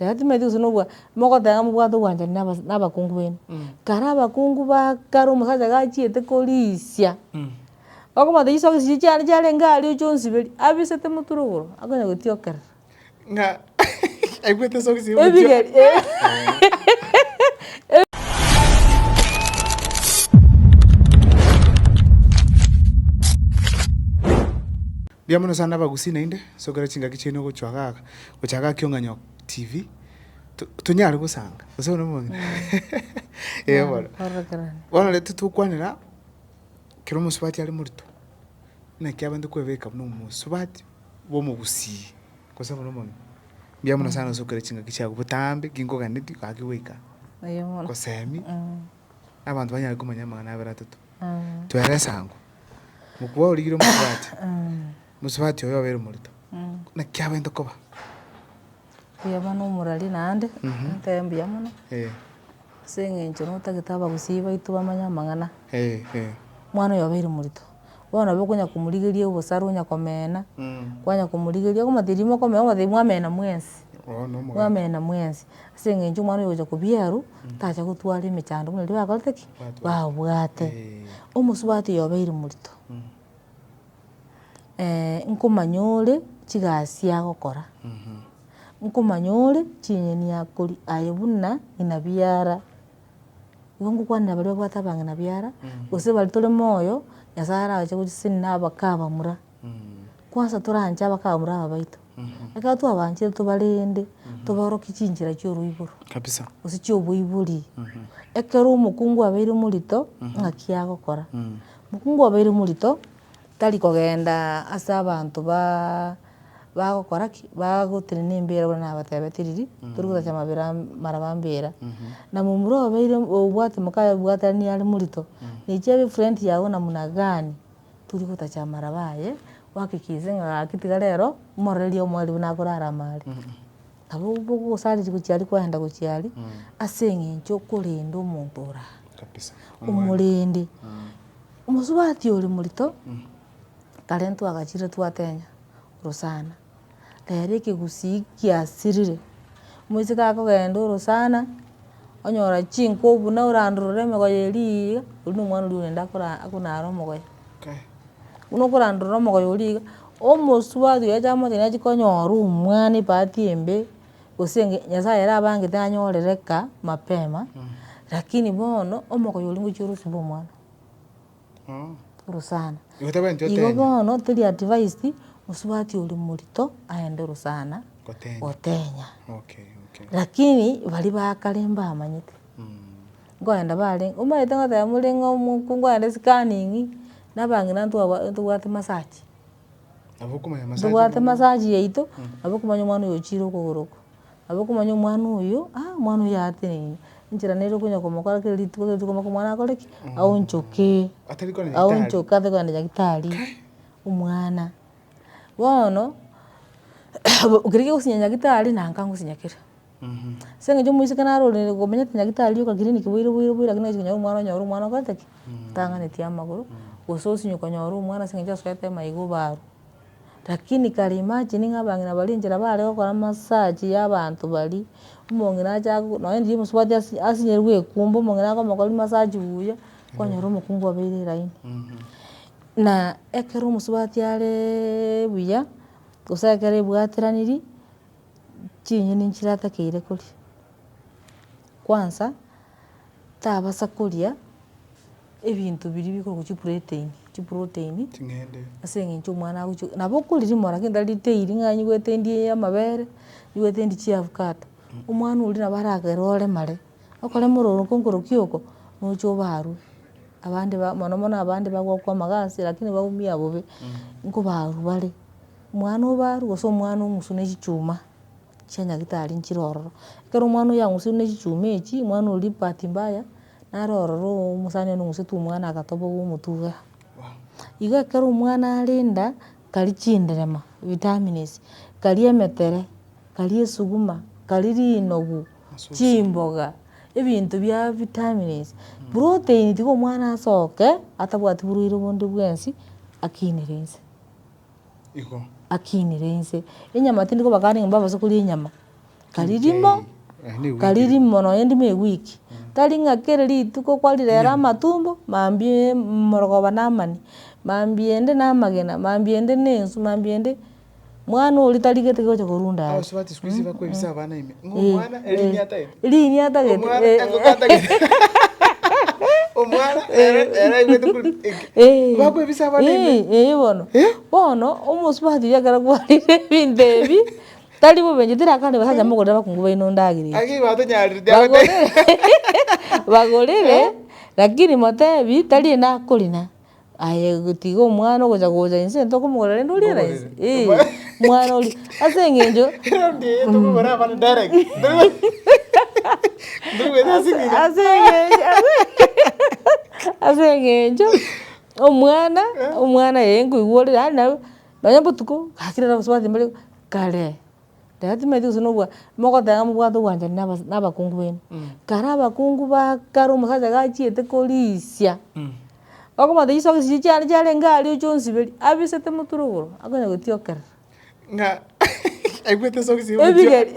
Naye timanyeti gose nobwa, mogoteba mobwate ogwanchani na abas- na abakungu bene, kare abakungu ba kare omosacha gachiete korisia, okomanya chiso chisiria chiane chiarenge aria ochi onsiberie, abisete motura igoro, akonya gotiokerera. Ng'a aigwete sokisi ya omochie. Ebigeri eeh. Mbuya mono sana abagusii naende, sokera chingaki chiaino gochia gaka. gocha gaki ong'anyo TV, to tonyare gosanga, gose bono omonto eh bono. Korokerania. Bono rero titokwanera kera omosubati are morito, buna ekiabande kwebeka buna omosubati bwa omogusii, gose bono omonto. Mbuya mono sana gose okere chingaki chiago botambe, ki nkoganeti gaki goika, Oyo mono. gosemi, na abanto banyare komanya amang'ana abere atato. Twere esango, mokubao origire omosubati, Mosubati oyo obeire omoreto. Naki abwenerete koba. Mbuya mono omorari naende, nintebee mbuya mono, ase eng'encho notagete abagusii baito bamanye amang'ana. Omwana oyo obeire omoreto, bono nabo okonya komorigeria obosare onya komena, kwanya komorigeria, okomanya rimo okomenya okomanya mwamena mwensi, mwamena mwensi, ase eng'encho omwana ogocha kobia arwa, tacha gotwara emechando buna riria bakorete ki? Babwate. Omosubati oyo obeire omoreto. nkomanya ore chigasi agokora, nkomanya ore chinyeni akori aye buna ng'ina biara, igo ngokwanera baria babwate abang'ina biara, gose baria tore moyo, Nyasaye arache gochiseni na abake abamura, kwansa toranche abake abamura aba baito, ekero twabaanchire tobarende, tobaorokie chinchera chia oroiboro, kabisa gose chia oboibori, ekero omokungu abeire omorito, ng'aki agokora, Mokungu obeire omorito tari kogenda ase abanto ba bagokora ki? Bagotenena embira buna nabatebetie riria tori gosacha mabera amaraba mbera. Na momura obeire obwate mokaye bwaterani are morito, nechi abe friend yago namna gani tori gotacha amaraba aye, ohakikise ng'a gaki tiga rero, omororerie omoerio buna akorara amo are. nabo bogosariria gochia aria kwaenda gochia aria, ase eng'encho okorenda omonto ore aa. Kabisa. Omorende. Omosubati ore morito, ekero ntwagachire twatenya orosana, rero ekegusii kiasirire, moiseke akogenda orosana, onyora chinko buna orandorere emegoye eria eria, oria na omwana oria orende akora akonare omogoye. Buna okorandorora omogoyo oria iga, omosubati oyo acha amotebi nachi konyora omwana ebahati embe, gose enga nyasaye ere abangete anyorere eka mapema, lakini bono omogoyo oria ngochia orosibe omwana, orosana. Igo bono teri advised mosubati oria morito aende orosana gotenya, lakini baria ba kare mbamanyete. Nkoenda bare, omanyete ngoteba more ng'a omoku nkoenda esikaningi, na abang'ina ntwaba ntobwate masachi. Nabo okomanya masachi. Ntobwate masachi yaito, nabo okomanya omwana oyo ochire okogoro oko, nabo okomanya omwana oyo, aa omwana oyo atenenine, enchera nere okonya komokora kera rituko kera rituko mpaka omwana akore ki? Aonchoke. Atari kona nyagetari. Aonchoke atari kona nyagetari, omwana. Bono, ekero kiagosinya nyagetari, nanka ngosinya kere. Ase eng'encho omoiseke naro ore komenya tinyagete arioka kiriniki boiro boiro boiro lakini okonya konyora omwana onyore omwana okorete ki, otang'aneti amagoro, gose osinye konyora omwana ase eng'encho asoete amaiga obaro. Lakini kare imagine ng'a abang'ina baria enchera bare gokora massage ya abanto baria, omong'ina acha ago nonye ndiye omosubati asi- asinyire goekumba omong'ina akomokoria massage buya, kwanyora omokungu obeire elaini. Na ekero omosubati areeeee buya, gose ekero ebwateraniri. chinyoni nchiratakeire koria, kwansa, tabasa koria ebinto biria bikoroku chipureteni, chiproteini, ase eng'encho omwana agochi nabo okoria rimoro lakini tari ritairi ng'a nigwetendie amabere, nigwetendie chiavukato, omwana oria nabo aragere oremare, okorema ororo nkoroku oko, nocha obarwe, abande ba mono mono abande bagokwama gasi lakini baumia bobe, nkobarwa bare. Omwana o baaru gose omwana ong'usu ne chichuma chia nyagitari nchire ororo. Ekero omwana oyio ang'usiru ne chichuma echi, omwana oria bahati mbaya, nare ororo omosani one ong'usete omwana agatobogoa omotwe igaa. Igo ekero omwana are inda, kari chinderema, vitamins, kari emetere, kari esuguma, kari rinogu, chimboga, ebinto bia vitamins, protein tiga omwana asoke atabwati borwaire bonde bwensi, akinere inse. igo. Akinire inse, enyama tindi kobakani ng'a mbabase koria enyama, kari rimo, kari rimo nonya ndimo ewiki, tari ng'a kera rituko kwarirera amatumbo, mambia morogoba na amani, mambia ende na amagena, mambia ende na enswe, mambia ende, mwana oria tarigete gocha korwa indaaro. Ng'omwana ere niye atagete. Riria niye atagete, Omwana eh, engoko atagete. Omwana ere ere aigwete kuri eke. Eh. Bakwebisa abana ime. Eh, eh, bono. Eh? Bono, omosubati oria ekero kwarire ebinto ebi, tari bobenche, tari akare basacha mogorere abakungu baino endagera eria. Aki batonyarire Bagorere, bagorere, lakini motebi, tari ende akorina, Aye tiga omwana ogocha gocha inse ntokomogora rende oriere inse Ntogoreria. eeh Omae. mwana oria ase eng'encho Erinde eye tokogora abana direct ntoigwete ntoigwete ase eng'ina ase eng'encho ase eng'encho omwana omwana eye nkoigwa ore yaani naye nonye botuko gaki rero gose gwateba mbare kare rero timaeti gose nobwa mogoteba mobwate ogwanchani na abas na abakungu baibo kare abakungu ba kare omosacha gachiete korisia. Bakomwata Yeso agachia chisiche chiane chiarenge aria ochia onsiberia, abisete motwe igoro, akonya gotiokerera. Ng'a aigwete socks ya omochie. Ebigeri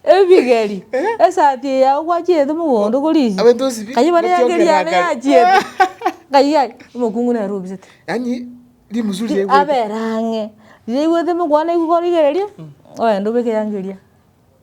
ebigeri, esati eye yao gwachiete mogondo korisia. Abete osibe, Kanywe bare egeri gotiokerera yane kare. yachiete. Ng'ai ai, omokungu nere obisete. Yaani rimusuria aigwete. Abera ang'e, riria aigwete mokwana aigwa igoro iga erio, ogenda obeke eyango eria.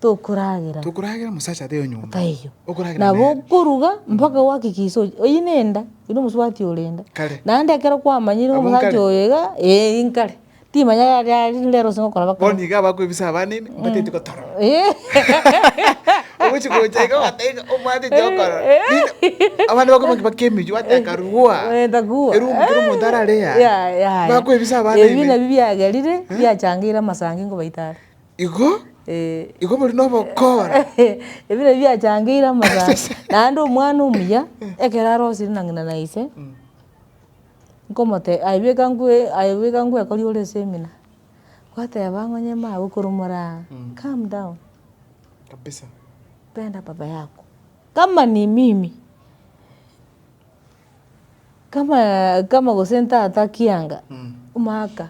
tokoragera. Tokoragera omosacha ateyo nyomba. Ataiyo. Okoragera Nabo nere. okoruga mpaka gwakikisa ochi- oyio nenda, oyio nomosubati ore enda. Kare. Naende ekero kwamanyire Abwo omosacha nkare. oyo iga, eh inkare. Timanya yari yari rinde ere gose ngokora bakora. Bono iga abakoebisa abana ime, mbatete gotorora. Ogochi gocha iga ogoteba ng'a omwatete okorora. Rinde abana bakoeba ng'a baka emeywo ate akarua. Eh, takua. Eroom kera omonto arare yaya. Yaya. Bakoebisa abana Ebio ime. nabio biagerire, biachangeire amasangi nkobaita are. Igo, igo bori nobokora. Ebi nabio biachangeire amasaaba. Naende omwana omuya ekero arosire na ng'ina na ise, nkomotebia, aye beka ngwe aye beka ngwekorie ore esemina. Gwateba ng'a onye mama okoromora aa, calm down. Penda baba yako. Kama ni mimi. Kama kama gose ntata kianga, omwaka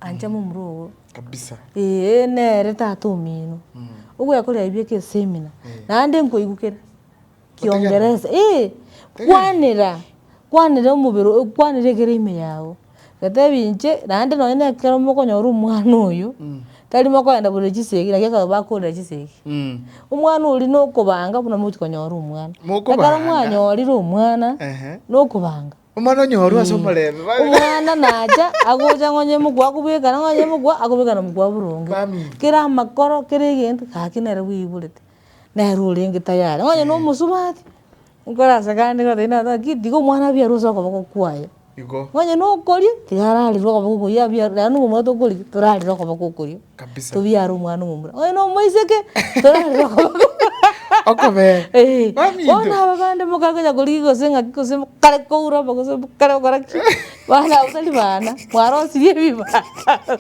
ancha momura ogo. Kabisa. Eeh nere tata omino. Ogwekoria aye bieka esemina, naende nkoigwa kere kiongeresa. Eeh, kwanera, kwanera omobere, kwanera ekero ime yago. Ngatebia inche naende nonye na ekero mokonyora omwana oyo, tari mokoenda bore chisegi naki ekero bakorire chisegi, omwana oria na okobanga buna mogochia konyora omwana. Mokobanga. Ekero mwanyorire omwana, Ehe. na okobanga. Omwana onyorwe ase omorembe ba- Omwana nacha agocha nonye mokwe akobeka nang'o nonye mokwe akobeka na mokwe boronge. Family. Kera amakoro kera egento, gaki nere bwoiborete, nere orenge tayari. Nonye na omosubati. Nkorase gande ng'a Thaini atoe ki, tiga omwana abia arue ase okoboko kwaye. Igo. Onye nokoria, tiga ararire okoboko okoria, abia arue, naende omomura tokori ki, torarire okoboko okoria. Kabisa. Tobiare omwana omomura. Onye nomoiseke, torarire okoboko. Okobee. Eeh. Mami intwe. Bono aba bande mokare konya korigia gose ng'aki gose mokare koura obo gose mokare gokora ki, bana aba tari bana, mwarosirie ebibando.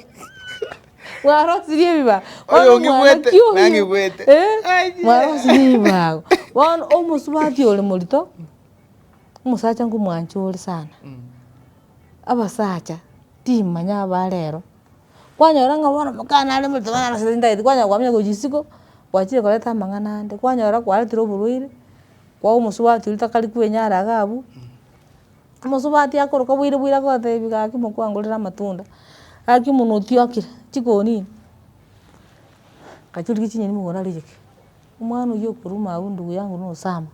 Mwarosirie ebibago. Bono Oyonge omwana bwete, ki oyio? nange bwete. Eh, Ai, ye. mwarosirie ebibago. Bono omosubati ore morito, omosacha nkomwancha ore sana. Abasacha, timanya aba rero. Kwanyora ng'a bono omokana are morito bono arosire chintagete, kwanyora kwamanya gochia isiko, gwachire koreta amang'ana ande, kwanyora kwaretire oborwaire, kwa omosubati oria takari kwenyara iga abwo. Omosubati akoroka bwaire bwaire agotebi gaki mokwangorere amatunda, gaki buna otiokire chikonini, ngachirurire chinyeni mogoro aria cheke, omwana oyio okoruma agwo ndugu yangu na osama.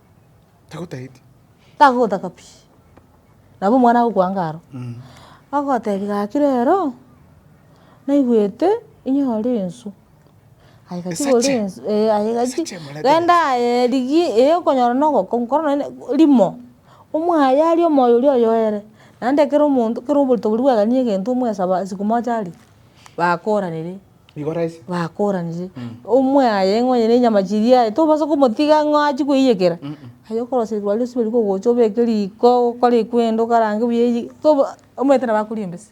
Tagotageti. Tagogotaka pi, nabo omwana agokwanga aro, agotebi gaki rero, naigwete inyore enswe. Aye gaki Esache. bori ensu eh aye gaki Esache emarabera. genda aye erigi eh okonyora na ogoko nkoro naende rimo, omwaye aria omoyo oria oyoere, naende ekero omonto ekero oborito boria bwagania egento omwesaba siku moja aria, bakoranire, Nigo raisi. bakoranire, omwaye ng'a onye na enyama chiria aye tobasa komotiga ng'a achie koiyekera, aye okorosia rituko riaye riria riagocha obeke riko, okore ekwende okarange buya eyie, tobo omanyete nabo akoria embese.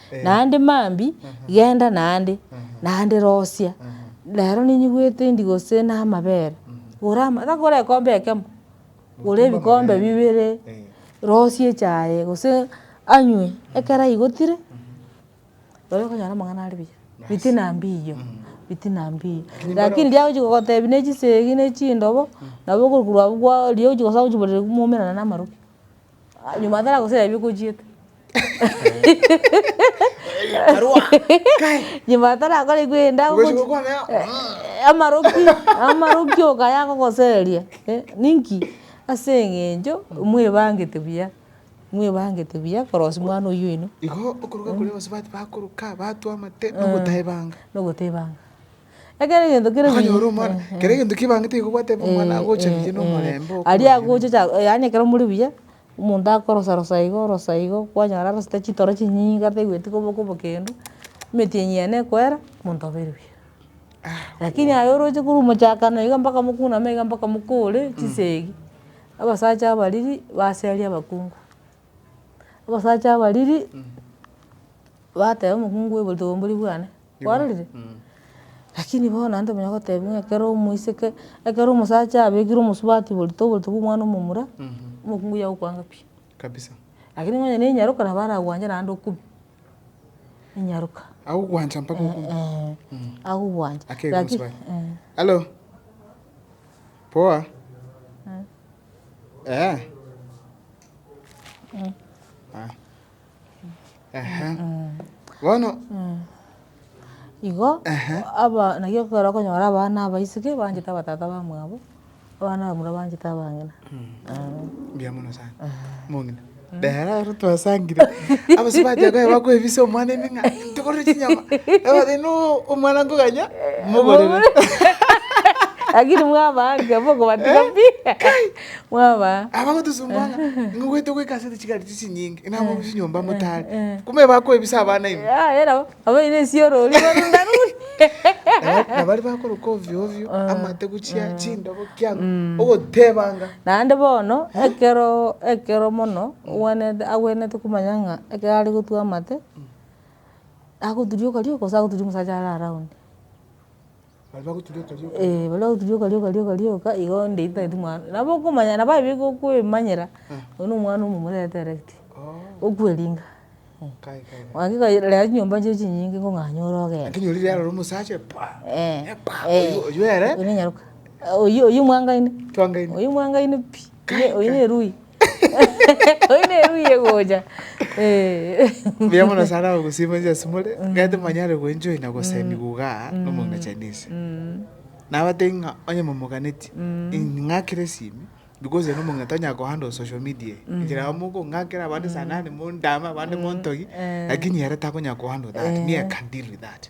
naende mambia, genda naende, naende rosia, rero ninyigwete endi gose na amabere, gora ama tagokora ekombe ekemo, gora ebikombe bibere, rosia echaye gose anywe ekero aigotire, nabo okonyora amang'ana are buya, fitina mbiya, fitina mbiya. Lakini riria agochia gogotebi na echisegi na echindobo, nabo okorokwa abwo kwa riria ogochia gosabe ochiborerie moumera namaroke. Ah, nyuma atara gosera ebio kochiete. Karwa. Kai. Nyuma atarakora igwe enda Ugasi ogochi- gokwana ya- Eh, amaroki amaroki okaya agogoseria eh, ninki? Ase eng'encho mwebangete buya, mwebangete buya korosia omwana oyio oino Igo okoroka koria gose bati bakoruka, batwa amate, nogotebanga. nogotebanga. Ekero egento kere buya. Akanyora omwana, eh. Kera egento kebangete igo gwateba omwana agocha buya na omorembe okobua. Aria agocha cha yaani ekero muri buya, omonto akorosa rosa igo orosa igo, kwanyora arosete chitoro chinyinge ateigweti koba okobokendu, emeti enyia ene ekwera, omonto abeire buya. Lakini aye oroche korwa omochakano iga mpaka mokuname iga mpaka mokore chisegi, abasacha abariri base aria abakungu. Abasacha abariri bateba omokungu oyo boritwa obombori bwane. kwarorire? Lakini bono naende omonto onya gotebia ng'a ekero omoiseke, ekero omosacha abekire omosubati oborito oborito bwa omwana omomura, omokungu oyio agokwanga pi. Kabisa. Lakini onye ne enyaroka nabo aragwanje naende okube, enyaroka. Agogwancha mpaka okube. Eeh, agogwancha. Akegwa Laki- omosubati. eh. Hallo? Poa? Eeh. Aya. Ehe. Bono Igo Ehe. aba naki ekero okonyora abana abaiseke banchete abatata bamwabo, abana abamura banchete abang'ina. mbuya mono sana. Mong'ina. Rero ero twasangire. Abasore bachia koba bakoebisa omwana emeng'a, togorere chinyama. Ebabwate no omwana nkoganya, mogorere. Lakini mwabanga, bokobatiga pi. Mwaba. Abagotosumbuga ng'a ng'a goeta goika ase chigari chii chinyinge, ng'a abwo chinyomba motare. Kumbe bakoebisa abana ime. Yaye nabo, nabo oino esioro oria barunda ruri. Na baria bakoroka ovio ovio, amate gochia chindobo kiang'o, ogotebanga. Naende bono, ekero ekero mono, ogwenerete agwenerete komanya ng'a ekero are gotwa amate, agoturia okario, gose agoturia omosacha are around. Baria bagoturia okori okori. Eeh baria bagoturia okori okori okori oka, igo onde ntagete omwana, nabo okomanya nabo aye bigo okoemanyera, oyo na omwana omomura direct, okweringa, Kai kai kai. gaki kaira rero chinyomba chiria chinyinge kong'anyora ogenda. Lakini ori rero ore omosacha paa, Eeh, paa, eeh. oywo oywo ere. Oyo nyaroka, oyio oyio mwangaine. Twangaine. Oyio mwangaine pi. Oye- oyo nerui oyo nerui egocha Eh. Mbuya mono sana abagusii mwensi ase more ekero timonyare goenjoy na gosainigwa igaa nomong'ina Chinese nabatebi ng'a onye momoganetie ing'akere esimi because ere nomong'ina tonyara ko handle social media eye enchera amo mokong'akera abande sa nani mondame abande montogi lakini ere takonyara ko handle that me I can deal with that.